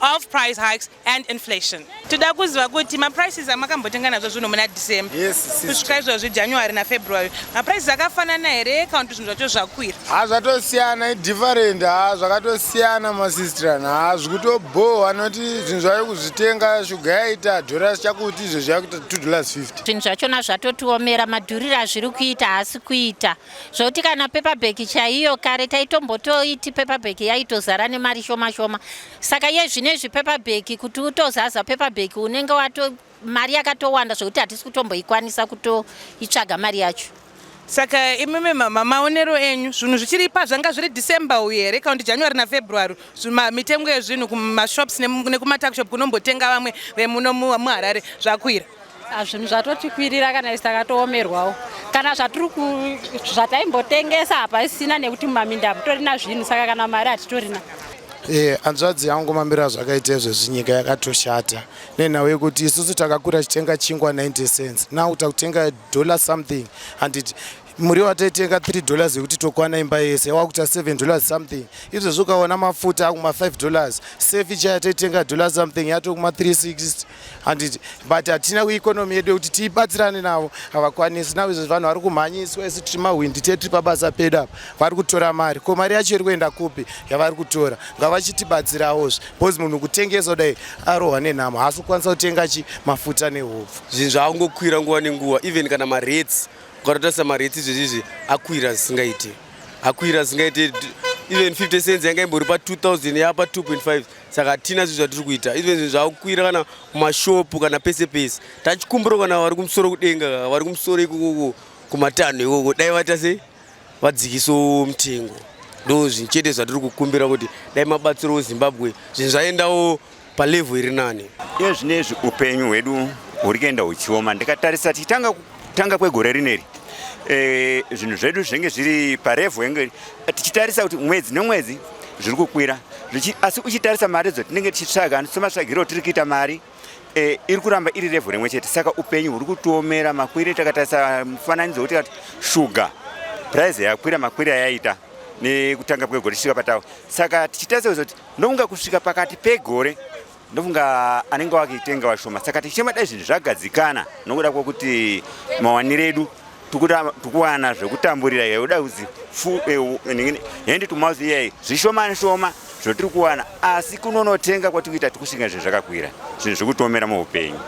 of price hikes and inflation toda kuziva kuti maprices amakambotenga nazvo zvinhu muna december kusvika izvozvi january nafebruary maprices akafanana here kana kuti zvinhu zvacho zvakwira ha zvatosiyana idifferent ha zvakatosiyana masistran ha zvikutobohwa noti zvinhu zvave kuzvitenga shuga yaita dollars chakuti izvo zvakuita two dollars 50 zvinhu zvachona zvatotiomera madhuriro azviri kuita haasi kuita zvokuti kana paperbag chaiyo kare taitombotoiti paperbag yaitozara nemari shoma shoma saka iye zvino izvi paperbag kuti utozaza paperbag unenge wato mari yakatowanda zvokuti hatisi kutomboikwanisa kutoitsvaga mari yacho saka imimi mama maonero enyu zvinhu zvichiri pa zvanga zviri december uyu here kaundi january nafebruary mitengo yezvinhu kumashops nekumatuckshop kunombotenga vamwe vemuno muharare zvakwira Ah, zvinhu zvatotikwirira kana isi takatoomerwawo kana zvatiri zvataimbotengesa hapaisina nekuti mumaminda hamutorina zvinhu saka kana mari hatitorina e hanzvadzi yangu mamiro azvakaita izvezvi nyika yakatoshata nenhau yekuti isusu takakura tichitenga chingwa 90 cents now takutenga dollar something handiti muriwo ataitenga 3 dollars yekuti tokwana imba yese wakuta 7 dollars something izvezvi ukaona mafuta akuma 5 dollars sefi chaya taitenga dollar something yatokuma 360 handiti but hatina economy yedu yekuti tiibatsirane navo havakwanisi navo izvozvi vanhu vari kumhanyiswa isu tiri mahwindi tie tiri pabasa pedu apa vari kutora mari ko mari yacho iri kuenda kupi yavari kutora ngavachitibatsiraozve bcause munhu kutengesa kudai arohwa nenhamo haasi kukwanisa kutenga chi mafuta nehupfu zvinhu zvaakungokwira nguva nenguva even kana marets ukatotarisa marets izvezvizvi akwira zvisingaiti akwira zvisingaiti even 50 cents yanga imbori pa 2000 yapa 2.5 saka hatina zvinhu zvatiri kuita izvo zvinhu zvakukwira kana mumashopu kana pese pese tachikumbiro kana vari kumusoro kudenga vari kumusoro ikokoko kumatanho ikoko dai vaita se vadzikiso mutengo ndo zvinhu chete zvatiri kukumbira kuti dai mabatsiro wezimbabwe zvinhu zvaendawo palevho iri nani iye zvine izvi upenyu hwedu huri kuenda huchioma ndikatarisa tichitanga Tanga kwegore rineri e, zvinhu zvedu zvenge zviri parevho yenge tichitarisa kuti mwedzi nemwedzi zviri kukwira asi uchitarisa mari dzotinenge tichitsvaga somatsvagiro tiri kuita mari e, iri kuramba iri revho rimwe chete saka upenyu huri kutiomera makwire takatarisa mufananidzo wekuti kati shuga prize yakwira makwire ayaita nekutanga kwegore tichisvika patawa saka tichitarisa kuti ndokunga kusvika pakati pegore ndofunga anenge wakitenga vashoma saka tichema dai zvinhu zvagadzikana nokuda kwokuti mawanire edu tikuwana zvekutamburira iye uda kuzi eh, hendi tumouth iyayi zvishomani shoma zvotiri kuwana asi kunonotenga kwatikuita tikushinga zvinhu zvakakwira zvinhu zvikutomera muupenyu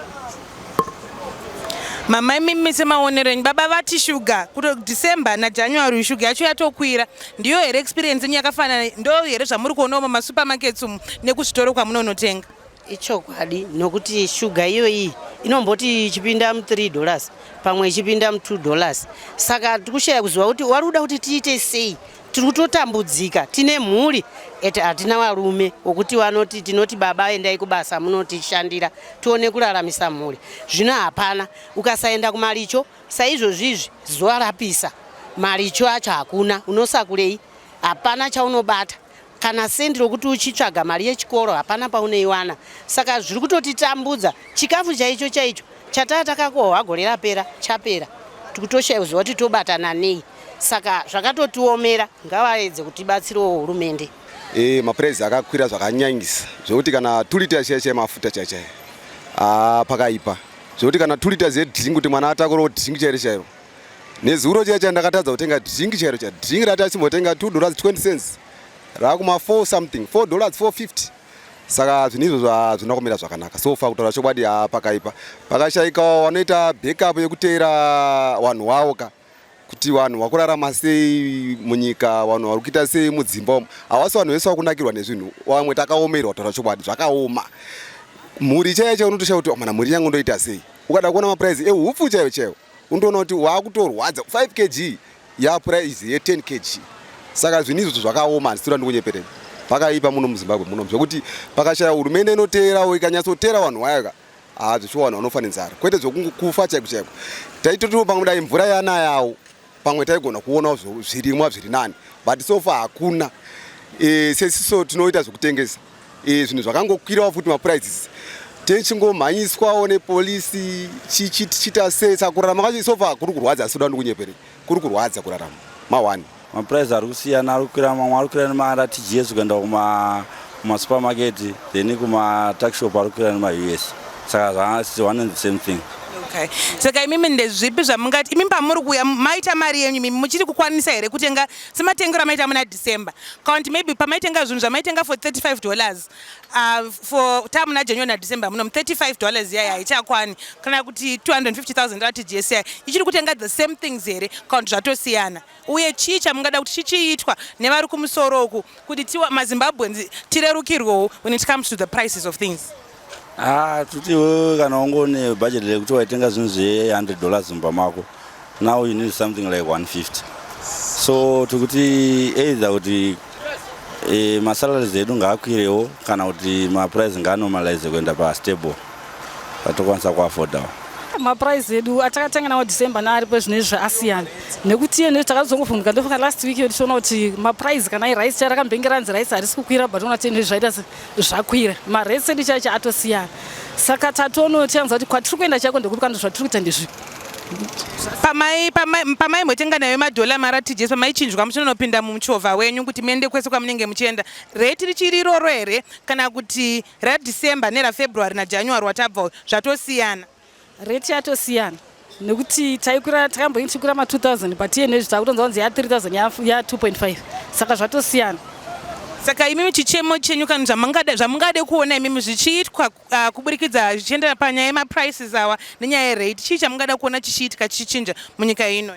Mama imi mise maonero enyu baba vati shuga kuto December na January shuga yacho yatokwira ndiyo here experience yenyu yakafanana ndo here zvamuri kuona umo ma supermarkets umu nekuzvitoro kwamunonotenga ichokwadi nokuti shuga iyoyi inomboti ichipinda mu 3 dollars pamwe ichipinda mu 2 dollars saka tikushaya kuziva kuti wari kuda kuti tiite sei tiri kutotambudzika tine mhuri et hatina varume wokuti vanoti tinoti baba endai kubasa munotishandira tione kuraramisa mhuri zvino hapana ukasaenda kumaricho saizvozvizvi zuva rapisa maricho acho hakuna unosakurei hapana chaunobata kana sendi rokuti uchitsvaga mari yechikoro hapana pauneiwana saka zviri kutotitambudza chikafu chaicho chaicho Chataya takakohwa gore rapera chapera tikutoshayiwa zuva kuti tobatana nei saka zvakatotiomera ngavaedze kutibatsirawo hurumende. E, mapuraizi akakwira zvakanyanyisa zvekuti kana tulita chaiya chaiya mafuta chaiya chaiya ah, pakaipa zvekuti kana tulita zedringi kuti mwana atakurewo dringi chairo chairo nezuro chaiya chaiya ndakatadza kutenga dringi chairo chairo dringi rati asimbotenga 2 dollars 20 cents raakuma 4 something 4 dollars 450 saka zvinhu izvozvo hazvina kumira zvakanaka so fa kutaura chokwadi ha pakaipa pakashaika wanoita backup yekuteera vanhu wavo ka kuti vanhu vakurarama sei munyika vanhu vari kuita sei mudzimba umu havasi vanhu vese vakunakirwa nezvinhu vamwe takaomerwa kutaura chokwadi zvakaoma mhuri chaiyo chaiyo unotoshaa kuti oh, mana mhuri yangu ndoita sei ukada kuona mapuraizi eupfu chaiyo chaiyo undoona kuti waakutorwadza 5 kg yaprice ye 10 kg saka zvinhu izvozvo zvakaoma handisira ndikunyepereni pakaipa muno muzimbabwe muno zvekuti pakashaya hurumende inoteerawo ikanyatsoteera vanhu vayoka hazvishuwa vanhu vanofa nenzara kwete zvekungokufa chaiko chaiko taitotiwo pamwe dai mvura yanayawo pamwe taigona kuonawo zvirimwa zviri nani but so far hakuna e, sesiso tinoita zvekutengesa e, zvinhu zvakangokwirawo futi maprizes techingomhanyiswawo nepolisi chichiita sei saka kurarama kacho so far kuri kurwadza asi uda ndikunyepere kuri kurwadza kurarama ma1 mapurize ari kusiyana ari kukwira mamwe ari kukwira nemaratgs kuenda kumasupermarket then kumatuckshop ari kukwira nemaus saka zvaanonzi same thing okay saka imimi ndezvipi zvamungati imimi pamuri kuuya maita mari yenyu imimi muchiri kukwanisa here kutenga sematengero amaita muna december kaunti maybe pamaitenga zvinhu zvamaitenga for 35 dollars uh, for ta muna january nadecember muno 35 dollars yaya haichakwani kana kuti 250000 rati gsi ichiri kutenga the same things here kaunti zvatosiyana uye chii chamungada kuti chichiitwa nevari kumusoro uku kuti tiwa mazimbabweans tirerukirwewo when it comes to the prices of things ah tutiwo kana ungone budget rekuti waitenga zvinhu zve 100 dollars mumba mako now you need something like 150 so tikuti either kuti e, masalaries edu ngaakwirewo kana kuti maprice ngaanomalize kuenda pastable vatokwanisa kuafodawo maprice edu atakatenga nawo december naari pezvino izvi asiyana nekuti iye nekuti takazongovhunduka ndofunga last week yo tichiona kuti maprice kana irice chai rakambenge ranzi rice harisi kukwira but ona tene zvaita zvakwira marese edu chaicho atosiyana saka tatono tiyanza kuti kwatiri kuenda chaiko ndekupi kana zvatiri kuita ndezvi pamai pamai motenga nayo madhola mara tijesi pamaichinjwa muchinonopinda muchovha wenyu kuti muende kwese kwamunenge muchienda reti richiri iroro here kana kuti RaDecember neraFebruary naJanuary watabva uyu zvatosiyana. Rate yatosiyana nekuti taikura takamboinge tichikura ma 2000 but iye nezvi takutonzwa kunzi ya 3000 ya 2.5 saka zvatosiyana. Saka imimi chichemo chenyu kana zvamungade zvamungade kuona imimi zvichiitwa uh, kuburikidza zvichiendera panyaya yemaprices awa nenyaya yerate chii chamungada kuona chichiitika chichinja munyika ino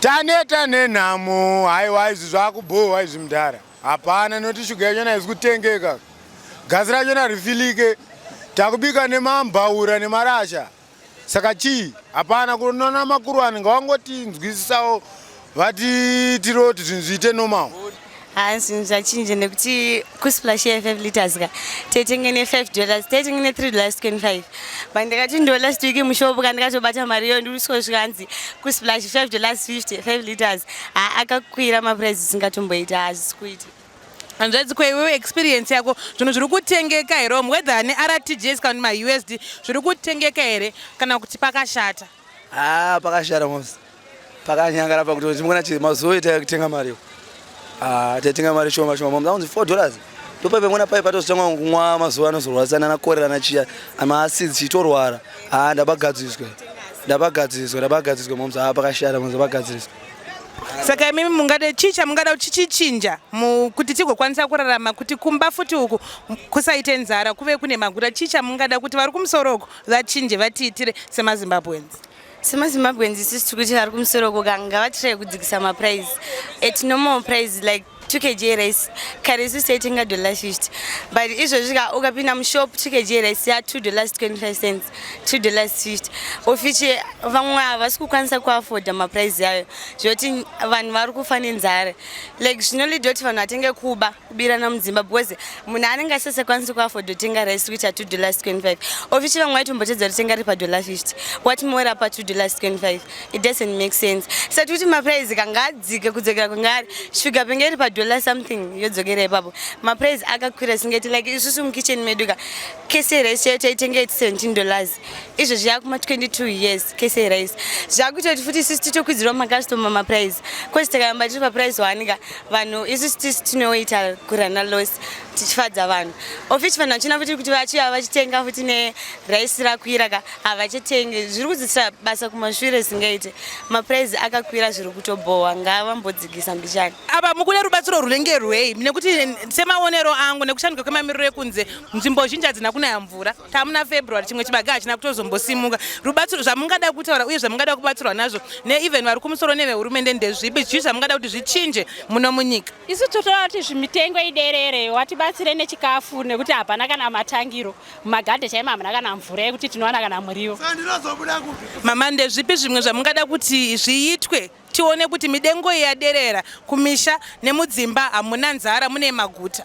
Taneta nenhamo haiwa izvi zvakubhohwa izvi mdhara hapana noti shuga yachona haizi kutengeka gasi rachona rifilike takubika nemambaura nemarasha saka chii hapana kunona makuruwani ngawangotinzwisisawo vati tiroti zvinhu zviite normal haa zvinhu zvachinja nekuti kusplash ye 5 liters ka taitenge ne 5 dollars taitenge ne 3 dollars 25 but ndakati ndo last week mushopu ka ndakatobata mari iyo ndirisiko zvikanzi kusplash 5 dollars 50 5 liters haa akakwira maprice isingatomboita hazvisi kuita hanzvadzi kweiwewe experience yako zvinhu zviri kutengeka here omwedha ne rtgs kana mausd zviri kutengeka here kana kuti pakashata Ah, pakashara mos. Pakanyangara pakuti ndimona chii mazuva ita kutenga mari. Ah, tatenga mari shoma shoma. Mom, zaunzi 4 dollars. Ndopa pemona pai patozotanga kunwa mazuva anozorwadzana na korera na chiya. Ama acids chitorwara. Ah, ndabagadziswa. Ndabagadziswa, ndabagadziswa mom. Ah, pakashara mos bagadziswa. Saka imimi mungade chii chamungada chichichinja kuti tigokwanisa kurarama kuti kumba futi uku kusaite nzara kuve kune magura chii chamungada kuti vari kumusoro uku vachinje vatiitire semazimbabweans semazimbabweans isusu tiri kuti vari kumusoro koka ngavatirae kudzikisa maprize at normal prize like 2 kg rice kare isusu taitenga dollar 50 but izvozvi ka ukapinda mushop 2 kg rice ya 2 dollars 25 cents 2 dollars 50 ofichi vamwe havasi kukwanisa kuafoda maprize ayo zvekuti vanhu vari kufa nenzara like zvinolida kuti vanhu vatenge kuba kubirana mudzimba because munhu anenge asisakwanisi kuafodo tenga rice which are two dollars 25 ofici vamwe vaitombotedza kuti tenga ri padollar 50 what more apa two dollars 25 it doesn't make sense saka tikuti maprice kanga adzike kudzokera kungari shuga penge iri padollar something yodzokera ipapo maprice akakwira singati like isusu mukitchen medu ka kese rice chayo taitenga iti 17 dollars izvo zviya kuma 22 years kese rise zvakuita kuti futi isusu titokwidzirwa makastoma maprice coz takayamba tiri paprice wanika vanhu isusu tisi tinoita kurana loss tichifadza vanhu ofichi vanhu vachina futi kuti vachiya vachitenga futi nerice rakwira ka havachitengi zviri kudzisira basa kumashure singaite maprice akakwira zviri kutobhowa ngavambodzikisa mbichani apa mukuda rubatsiro rwunenge rwei nekuti semaonero angu nekushanduka kwemamiriro ekunze nzvimbo zhinji hadzina kunaya mvura tamuna february chimwe chibage hachina kutozombosimuka rubatsiro zvamungada kutaura uye zvamungada kubatsirwa nazvo neeven vari kumusoro nevehurumende ndezvipi chii zvamungada kuti zvichinje muno munyika isu totoda kuti zvimitengo iderere watibatsire nechikafu nekuti hapana kana matangiro mumagadhe chaimo hamuna kana mvura yekuti tinowana kana muriwo mama ndezvipi zvimwe zvamungada kuti zviitwe tione kuti midengo yaderera kumisha nemudzimba hamuna nzara mune maguta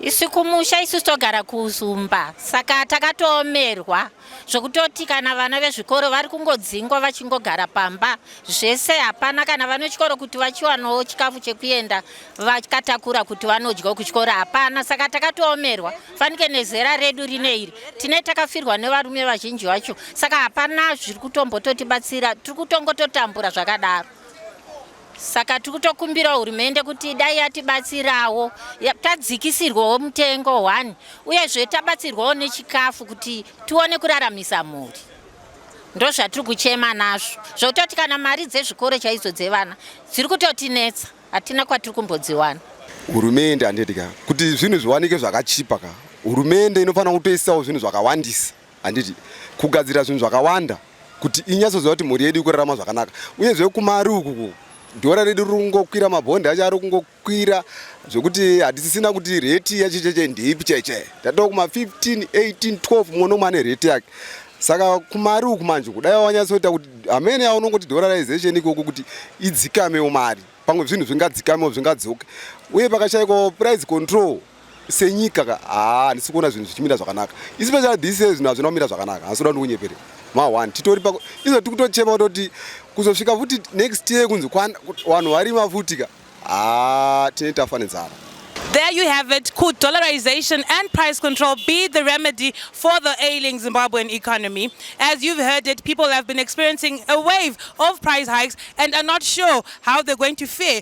isu kumusha isu togara kuzumba saka takatoomerwa zvokutoti kana vana vezvikoro vari kungodzingwa vachingogara pamba zvese hapana kana vane chikoro kuti vachiwanawo chikafu chekuenda vakatakura kuti vanodyawo kuchikoro hapana saka takatoomerwa fanike nezera redu rine iri tine takafirwa nevarume vazhinji vacho saka hapana zviri kutombototibatsira tiri kutongototambura zvakadaro saka tiri kutokumbirawo hurumende kuti dai yatibatsirawo tadzikisirwawo mutengo one uyezve tabatsirwawo nechikafu kuti tione kuraramisa mhuri ndozvatiri kuchema nazvo zvokutoti kana mari dzezvikoro chaidzo dzevana dziri kutotinetsa hatina kwatiri kumbodziwana hurumende handidya kuti zvinhu zviwanike zvakachipa ka hurumende inofanira kutoisawo zvinhu zvakawandisa handiti kugadzira zvinhu zvakawanda kuti inyatsoziva kuti mhuri yedu ikurarama zvakanaka uyezve kumari uku dhora redu riri kungokwira mabhondi acho ari kungokwira zvekuti hatisisina kuti reti yacho cheche ndeipi cheche tatoo kuma 15 18 12 mumwe nomwe ane reti yake saka kumari uku manje kudai wanyatsoita kuti hamene yaunongoti dolarization ikoko kuti idzikamewo mari pamwe zvinhu zvingadzikamewo zvingadzoke uye pakashaikwa price control senyika ka haa handisi kuona zvinhu zvichimira zvakanaka especially this year zvinhu hazvina kumira zvakanaka handisi kuda kuti kunyepere ma1 titori pako izo tiri kutochema kutoti kuzosvika futi next year kunzi vanhu varima futi ka haa tine tafa nenzara There you have it. Could dollarization and price control be the remedy for the ailing Zimbabwean economy? As you've heard it, people have been experiencing a wave of price hikes and are not sure how they're going to fare